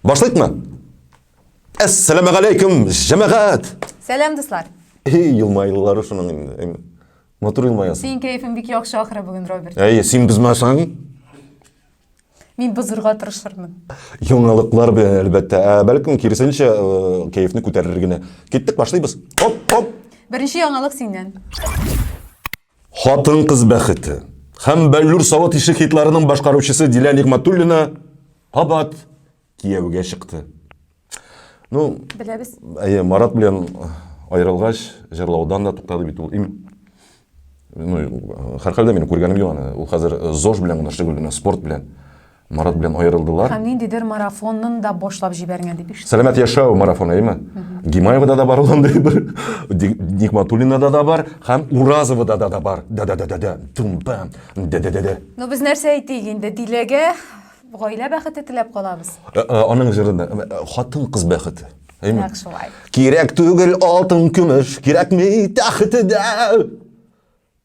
Башлык мы? Әссәләмә галәйкүм, җәмәгат! Сәлам, дуслар! Эй, елмайлылары шуның инде. Матур елмаясың. Синең кәефең бик яхшы ахыры бүген, Роберт. Әй, син бозмасаң? Мин бозырга тырышырмын. Яңалыклар белән әлбәттә. Ә бәлкем киресенчә кәефне күтәрер генә. Киттек, башлыйбыз. Оп, оп. Беренче яңалык синнән. Хатын-кыз бәхете һәм Бәллүр савыт ише хитларының башкаручысы Дилә Нигматуллина кабат кияүгә чыкты. Ну, беләбез. Әйе, Марат белән аерылгач, җырлаудан да туктады бит ул. Им ну, һәрхәлдә минем күргәнем юк аны. Ул хәзер э, ЗОЖ белән генә шөгыльләнә, спорт белән. Марат белән аерылдылар. Һәм ниндидер марафонын да башлап җибәргән дип ишеттем. Сәламәт яшәү марафоны, әйме? Гимаевада да бар ул андый бер. Нигматуллинада да бар һәм Уразовада да да бар. Да да да да да. Тум пам. Да да да да. Ну без нәрсә әйтик инде? Диләгә гаилә бәхете теләп калабыз. Э, э, аның җырында э, хатын кыз бәхете. Әйме? Нәкъ шулай. Кирәк түгел алтын көмеш, кирәкми тәхете дә.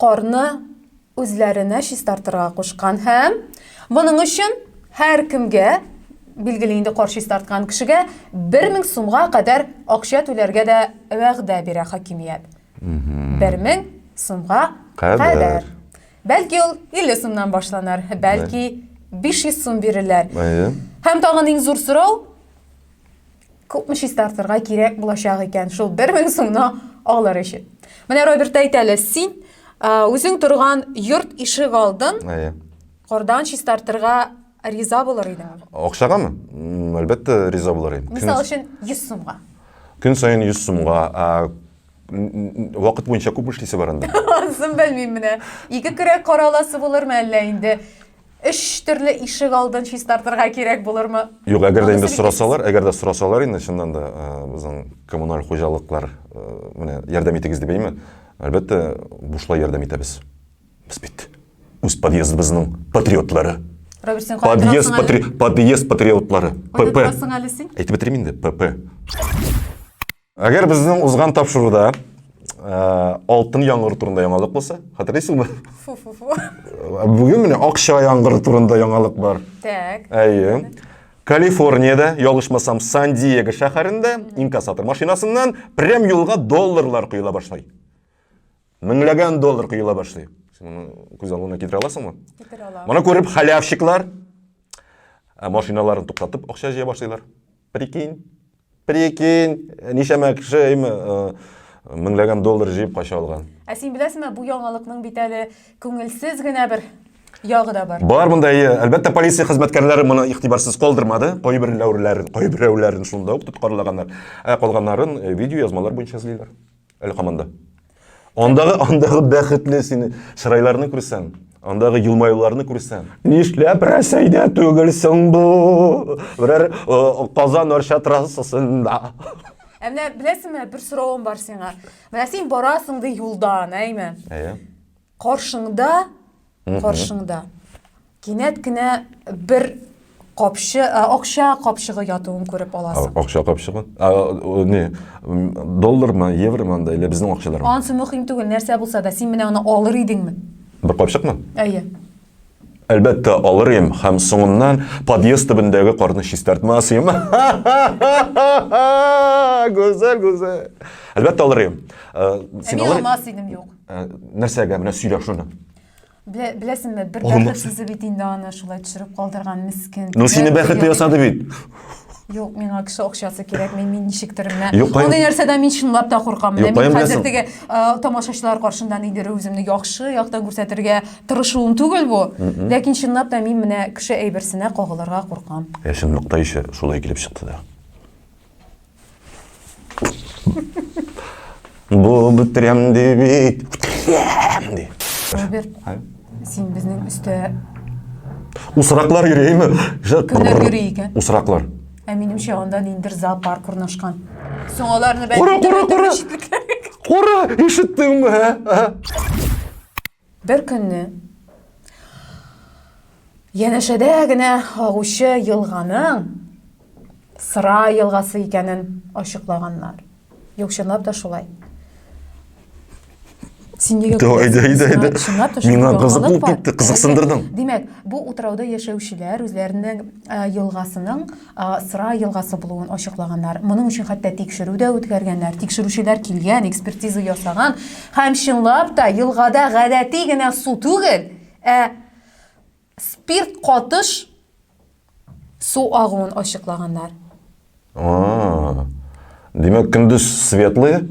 Карны үзләренә чистартырга кушкан һәм моның өчен һәркемгә, билгеле инде кар чистарткан кешегә, 1000 сумга кадәр акча түләргә дә вәгъдә бирә хакимият. 1000 сумга кадәр. Бәлки ул 50 сумнан башланыр, бәлки 500 сум бирерләр. Һәм тагын иң зур сорау, Күпме чистартырга кирәк булачак икән шул 1000 сумны алыр өчен. Менә Роберт әйт әле, син үзең торган йорт ишек алдын кардан чистартырга риза булыр идең? Акчагамы? Әлбәттә, риза булыр идем. Мисал өчен 100 сумга. Көн саен 100 сумга вакыт буенча күп эшлисе бар анда. Анысын белмим менә. Ике көрәк караласы булырмы әллә инде? Өч төрле ишек алдын чистартырга кирәк булырмы? Юк, әгәр дә инде сорасалар, әгәр дә сорасалар инде чыннан да э, безнең коммуналь хуҗалыклар э, менә ярдәм итегез дип әйме? Әлбәттә, бушлай ярдәм итәбез. Без бит үз подъездыбызның патриотлары. Роберт, син подъезд, патри... подъезд патриотлары. ПП. Әйтеп бетерим инде, ПП. Әгәр безнең узган тапшыруда Э, алтын яңгыр турында яңалык булса хәтерләйсеңме бүгін міне акча яңгыр турында яңалык бар так әйе калифорнияда ялгышмасам сан диего шәһәрендә инкассатор машинасыннан прям юлга долларлар құйыла башлай меңләгән доллар құйыла башлый сен күз алдыңа китерә аласыңмы китерә алам моны күреп халявщиклар машиналарын туктатып акча җыя башлыйлар Прикинь. Прикинь, нишәмә кеше әйме э, меңләгән доллар җыеп кача алган. Ә син беләсеңме, бу яңалыкның бит әле күңелсез генә бер ягы да бар. Бар монда, әйе. Әлбәттә, полиция хезмәткәрләре моны игътибарсыз калдырмады. Кайберләүләрен, кайберәүләрен шунда ук тоткарлаганнар. Ә калганнарын э, видеоязмалар буенча эзлиләр. Әле команда. Андагы андагы бәхетле сине чырайларны күрсәң, андагы елмаюларны күрсәң. Нишләп Рәсәйдә түгелсең бу? Берәр э, Казан Арча трассасында. Ә менә беләсеңме, бер соравым бар сиңа. Менә син барасың ди юлдан, әйме? Әйе. Каршыңда, каршыңда. Кинәт кенә бер капчы, ә, акча капчыгы ятуын күреп аласың. Акча капчыгы? Ә, не, доллармы, евромы анда, или безнең акчалармы? Ансы мөһим түгел, нәрсә булса да, син менә аны алыр идеңме? Бер капчыкмы? Әйе. Әлбәттә, алыр идем һәм соңыннан подъезд төбендәге карны чистартмас идем. Гүзәл, гүзәл. Әлбәттә, алыр идем. Э, син алыр... алмас идем, юк. Э, нәрсәгә, менә сөйлә шуны. Беләсеңме, бер бәхетсезе бит инде аны шулай төшереп калдырган, мискен. Ну, сине бәхетле ясады бит. Юк, миңа кеше акчасы кирәк, мин мин ничектер менә. Юк, кайм- Мондый нәрсәдән мин чынлап та куркам. Менә Юк, мин кайм хәзер беләсең. теге э, тамашачылар каршында нидер үземне яхшы яктан күрсәтергә тырышуым түгел бу. Ләкин чынлап та мин менә кеше әйберсенә кагылырга куркам. Ә чынлыкта ише шулай килеп чыкты да. Бу бетерәм ди бит. Бетерәм ди. Роберт, син безнең өстә Усраклар йөрейме? Кемнәр йөри икән? Усраклар. Ә минемчә анда ниндер зоопарк урнашкан. Соң аларны бәлки Кура, кура, кура! Кура, ишеттеңме, ә? Бер көнне янәшәдә генә агучы елганың Сыра елгасы икәнен ачыклаганнар. Юк, чынлап та шулай. Син нигә Давай, давай, давай. Чынлап та Миңа кызык булып китте, кызыксындырдың. Димәк, бу утрауда яшәүчеләр үзләренең елгасының Сыра елгасы булуын ачыклаганнар. Моның өчен хәтта тикшерү дә үткәргәннәр. Тикшерүчеләр килгән, экспертиза ясаган һәм чынлап та елгада гадәти генә су түгел, ә спирт катыш су агуын ачыклаганнар. Димәк, көндез светлые,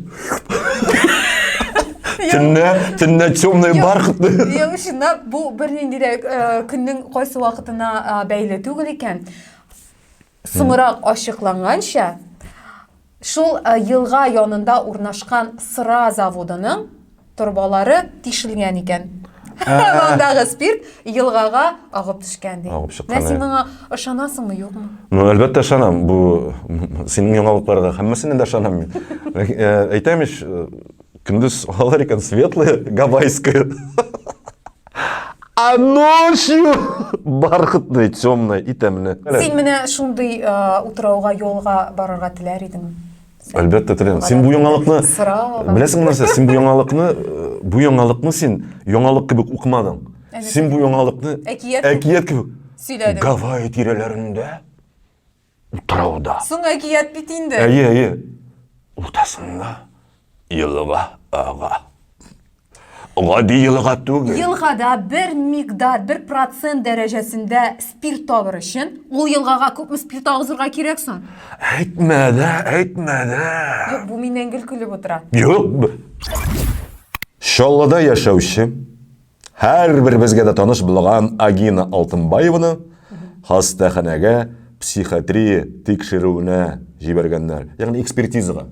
төнлә, төнлә темный бархатный. Юк, чынлап, бу бернинди дә э, көннең кайсы вакытына э, бәйле түгел икән. Соңрак ачыкланганча, шул э, елга янында урнашкан Сыра заводының Торбалары тишелгән икән. Андагы спирт елгага агып төшкән ди. Агып чыккан. Син моңа ышанасыңмы, юкмы? Ну, әлбәттә ышанам. Бу синең яңалыкларга һәммәсенә дә ышанам мин. Әйтәм ич, көндез алар икән светлые, гавайское. А ночью бархатный, темный и темный. Син менә шундый утрауга, юлга барырга теләр идеңме? Әлбәттә теләм. Син бу яңалыкны беләсең нәрсә? Син бу яңалыкны э, бу яңалыкны син яңалык кебек укымадың. Син бу яңалыкны әкият әкият кебек сөйләдең. Гавайи тирәләрендә утрауда. Соң әкият бит инде. Әйе, әйе. Уртасында елга ага. Гади елга түгел. Елгада бер мигдар, бер процент дәрәҗәсендә спирт табыр өчен, ул елгага күпме спирт агызырга кирәк соң? Әйтмә дә, әйтмә дә. Юк, бу миннән гел көлеп утыра. Юк. Чаллыда яшәүче һәрбер безгә дә таныш булган Агина Алтынбаеваны хастаханәгә психотрия тикшерүенә җибәргәннәр, ягъни экспертизага.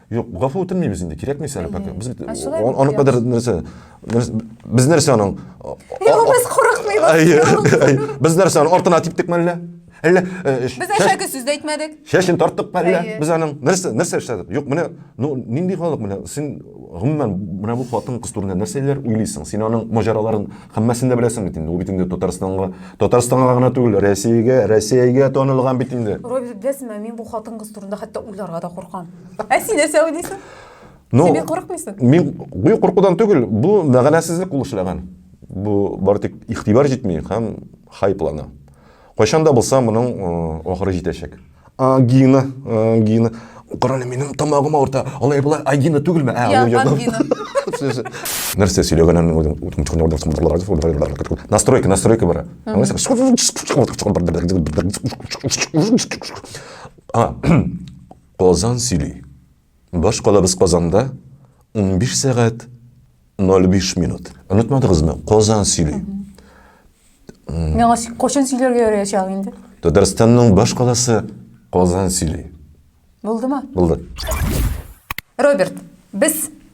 Юк, гафу үтенмибез инде, кирәкми сәле пакет. Без бит аны кадәр нәрсә? Без нәрсә аның? Юк, без курыкмыйбыз. Без нәрсә аның артына типтек мәллә? Әллә Без әшәке сүз дә әйтмәдек. Шәшен тарттык мәллә? Без аның нәрсә нәрсә эшләдек? Юк, менә ну нинди халык менә? Син гомумән менә бу хатын кыз турында нәрсәләр уйлыйсың? Син аның маҗараларын Хаммасын да беләсең бит инде. Ул бит инде Татарстанга, Татарстанга гына түгел, Россиягә, Россиягә танылган бит инде. Робби, беләсеңме, мин бу хатын-кыз турында хәтта уйларга да куркам. Ә син нәрсә уйлыйсың? Ну, син бик курыкмыйсың? Мин бу куркудан түгел, бу мәгънәсезлек ул эшләгән. Бу бары тик игътибар җитми һәм хайплана. Кайчан да булса моның ахыры җитәчәк. Ангина, ангина. Карале, минем тамагым авырта. Алай була, ангина түгелме? Ә, ул ягы. Нәрсә сөйләгәнен үзем настройка, настройка бара. Аңлыйсың? А, Казан сөйли. Баш калабыз Казанда, унбиш сәгать 05 минут. Онытмадыгызмы? Казан сөйли. Миңа кошын сөйләргә ярыячак инде. Татарстанның баш каласы Казан сөйли. Булдымы? Булды. Роберт, без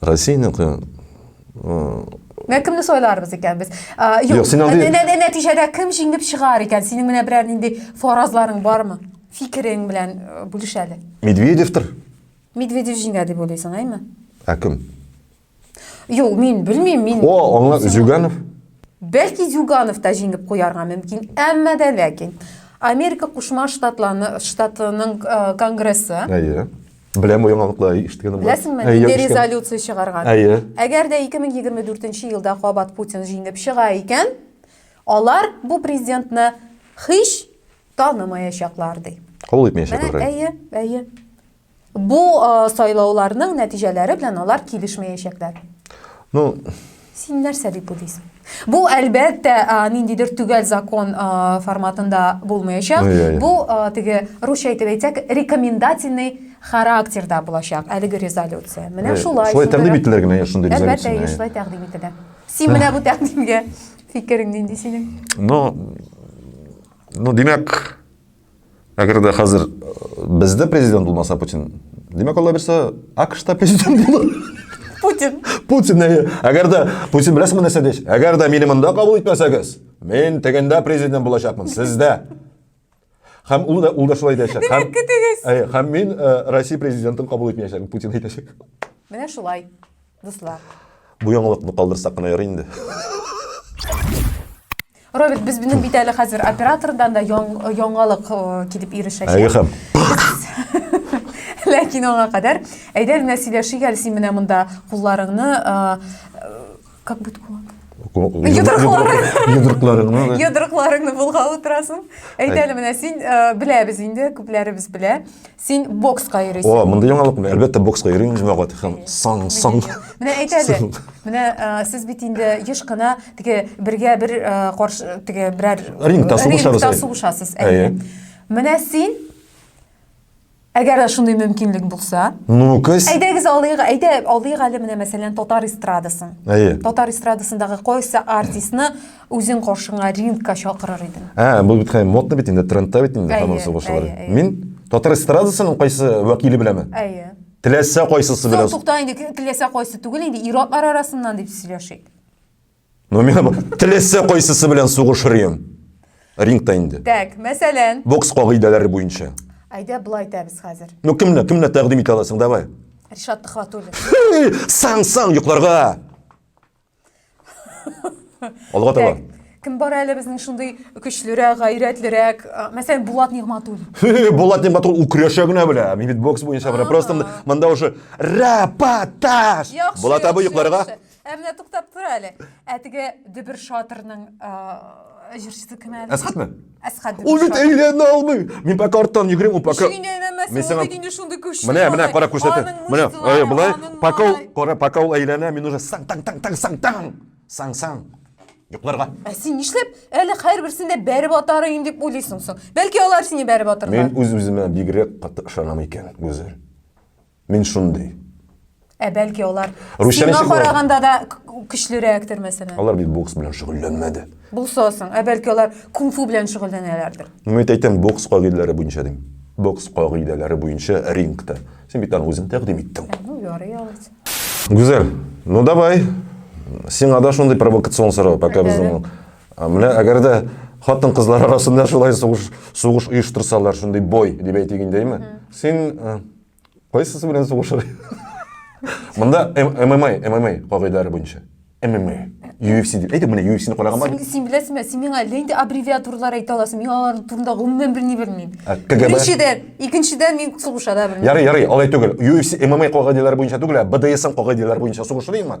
Россиянеке Менә кемне сайларбыз икән без? Юк, син андый... Нәтиҗәдә кем җиңеп чыгар икән? Синең менә берәр нинди фаразларың бармы? Фикерең белән бүлеш әле. Медведевтер. Медведев җиңә дип уйлыйсың, әйме? Ә кем? Юк, мин белмим, мин... О, аңа Зюганов. Бәлки Зюганов та җиңеп куярга мөмкин, әмма дә ләкин Америка Кушма Штатларының конгрессы. Әйе. Беләм бу яңалыкны, әй, ишеткәнем бар. Беләсеңме, Әй, нинди ишеткән- резолюция чыгарган? Әйе. Әгәр дә 2024 елда кабат Путин җиңеп чыга икән, алар бу президентны һич танымаячаклар, ди. Кабул итмәячәк Менә, алар. әйе, әйе. Бу э, сайлауларның нәтиҗәләре белән алар килешмәячәкләр. Ну, Син нәрсә дип уйлыйсың? Бу, әлбәттә, ниндидер төгәл закон форматында булмаячак. Бу, теге русча итеп әйтсәк, рекомендательный характерда булачак әлеге резолюция. Менә шулай. Шулай тәкъдим ителер генә шундый резолюция. Әлбәттә, шулай тәкъдим ителә. Син менә бу тәкъдимгә фикерең нинди синең? Ну, ну, димәк, Әгәр дә хәзер бездә президент булмаса Путин, димәк, Алла бирсә, АКШта президент булыр. Путин. Путин, әйе. Әгәр дә Путин беләсеңме нәрсә диш? Әгәр дә мине монда кабул итмәсәгез, мин тегендә президент булачакмын, сездә. Һәм ул да ул да шулай дияшәк. Һәм көтегез. Әйе, һәм мин Россия президентын кабул итмәячәкмен, Путин әйтәчәк. Менә шулай. Дуслар. Бу яңалыкны калдырсак кына ярый инде. Роберт, без безнең бит әле хәзер оператордан да яңалык э, килеп ирешәчәк. Әйе хәм. Ләкин аңа кадәр әйдә менә сөйләшик әле син менә монда кулларыңны э, э, как будет кулланып? Йодрыкларыңны. Йодрыкларыңны булга утырасың. Әйдә әле менә син беләбез инде, күпләребез белә. Син бокска йөрисең. О, мондый яңалык менә. Әлбәттә, бокска йөрим, җәмәгать һәм сан сан. Менә әйт әле. Менә сез бит инде еш кына теге бергә бер каршы теге берәр рингта сугышабыз. Рингта сугышасыз. Әйе. Менә син Әгәр дә шундый мөмкинлек булса. Ну, көз. Әйдәгез алыйк, әйдә алыйк әле менә мәсәлән татар эстрадасын. Әйе. Татар эстрадасындагы кайсы артистны Үзең каршыңа рингка чакырыр идем. Ә, бу бит хәй модны бит инде, трендта бит инде һәм ул сугышлар. Мин татар эстрадасының кайсы вәкиле беләме? Әйе. Теләсә кайсысы белән. Тукта инде, теләсә кайсы түгел инде, ир-атлар арасыннан дип сөйләшик. Ну, мин теләсә кайсысы белән сугышыр идем. Рингта инде. Так, мәсәлән. Бокс кагыйдәләре буенча. Әйдә, былай итәбез хәзер. Ну, кемне, кемне тәкъдим итә аласың, давай. Ришат Төхватуллин. Сан-сан йокларга! Алга таба. Кем бар әле безнең шундый көчлерәк, гайрәтлерәк? Мәсәлән, Булат Нигматуллин. Булат Нигматуллин укряша генә белә. Мин бокс буенча бара. Просто монда уже рапаташ. Булат абый йокларга. Ә менә туктап тор әле. Ә теге Дебер Шатрның җырчысы кем әле? Әсхәтме? Әсхәт Ул бит әйләнә алмый. Мин пока арттан йөгерим, ул пока Ничек инде әйләнмәсен, Мин сиңа- ул бит инде шундый көчле. Менә, менә, кара күрсәтә. Менә, ай, былай, пока ул, кара, пока ул әйләнә, мин уже саң, таң, таң, таң, саң, таң, саң, саң. Йокларга. Ә син нишләп әле һәрберсен дә бәреп атарыйм дип уйлыйсың соң? Бәлки алар сине бәреп атырлар. Мин үз-үземә бигрәк каты ышанам икән, Гүзәл. Мин шундый. Ә бәлки алар Русча сиңа караганда да көчлерәктер, мәсәлән. Алар бит бокс белән шөгыльләнмәде. Булса соң, ә бәлки алар кунг-фу белән шөгыльләнәләрдер. Ну, мин әйтәм, бокс кагыйдәләре буенча дим. Бокс кагыйдәләре буенча рингта. Син бит аны үзең тәкъдим иттең. Ә, ну, ярый алайса. Гүзәл, ну давай. Сиңа да шундый провокацион сорау, пока безнең. Менә әгәр дә хатын кызлар арасында шулай сугыш сугыш оештырсалар, шундый бой дип әйтик инде, әйме? Син Кайсысы белән сугышыр? Монда ММА, ММА кагыйдәләре буенча. ММА. UFC дип. Әйтеп, менә UFC-ны караган бар. Син беләсеңме? Син миңа әллә инде аббревиатуралар әйтә аласың. Мин алар турында гомумән берни белмим. Беренчедән, икенчедән мин сугыша да белмим. Ярый, ярый, алай түгел. UFC ММА кагыйдәләре буенча түгел, ә БДСМ кагыйдәләре буенча сугышырыймы?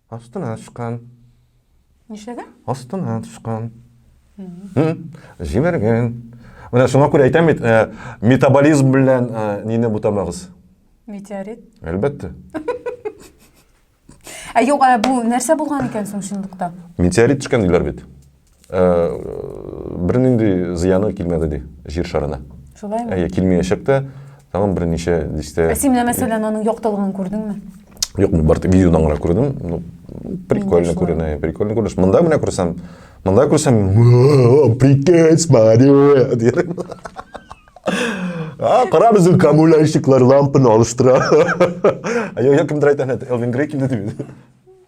Астына төшкән. Нишләгән? Астына төшкән. Җимергән. Менә шуңа күрә әйтәм бит, э, метаболизм белән э, нине бутамагыз. Метеорит. Әлбәттә. Ә юк, ә бу нәрсә булган икән соң чынлыкта? Метеорит төшкән диләр бит. Э, бер нинди зыяны килмәде ди җир шарына шулаймы әйе килмәячәк тә тагын берничә дистә ә син менә мәсәлән аның яктылыгын күрдеңме юк мин бары тик видеодан гына күрдем ну прикольно күренә прикольно күренеш монда менә күрсәм монда күрсәм прикинь смотри дидем А, кара безнең камулящиклар лампаны алыштыра. Я кемдер әйтә, Элвин Грей килде дип.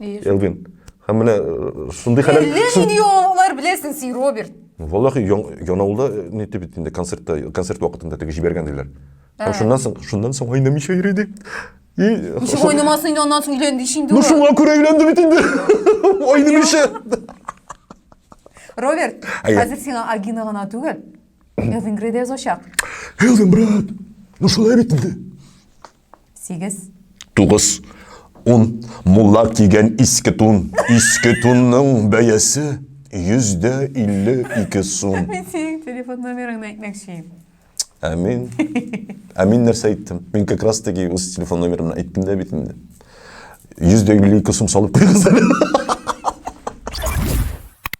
Элвин. Һәм менә э, шундый хәләл... Әллә шун- нинди яңалыклар беләсең син, Роберт. Валлахи, ян- Янаулда э, ни дип инде концертта, концерт вакытында теге җибәргән диләр. Һәм шуннан соң, шуннан соң айнамыйча йөри ди. И, Ничек шул- уйнамасын инде аннан соң өйләнде ич инде Ну ул. шуңа күрә өйләнде бит инде. Айнамыйча. Роберт, Әйе. хәзер сиңа Агина гына түгел. Элвин Грей дә язачак. Элвин, брат, ну шулай бит инде. Сигез. Тугыз. Ун. Мулла кигән иске тун. Иске тунның бәясе йөздә илле ике сум. Мин синең телефон номерыңны әйтмәкче. Ә мин... Ә мин нәрсә әйттем? Мин как раз таки үз телефон номерымны әйттем дә бит инде. Йөздә илле ике сум салып куйгыз әле.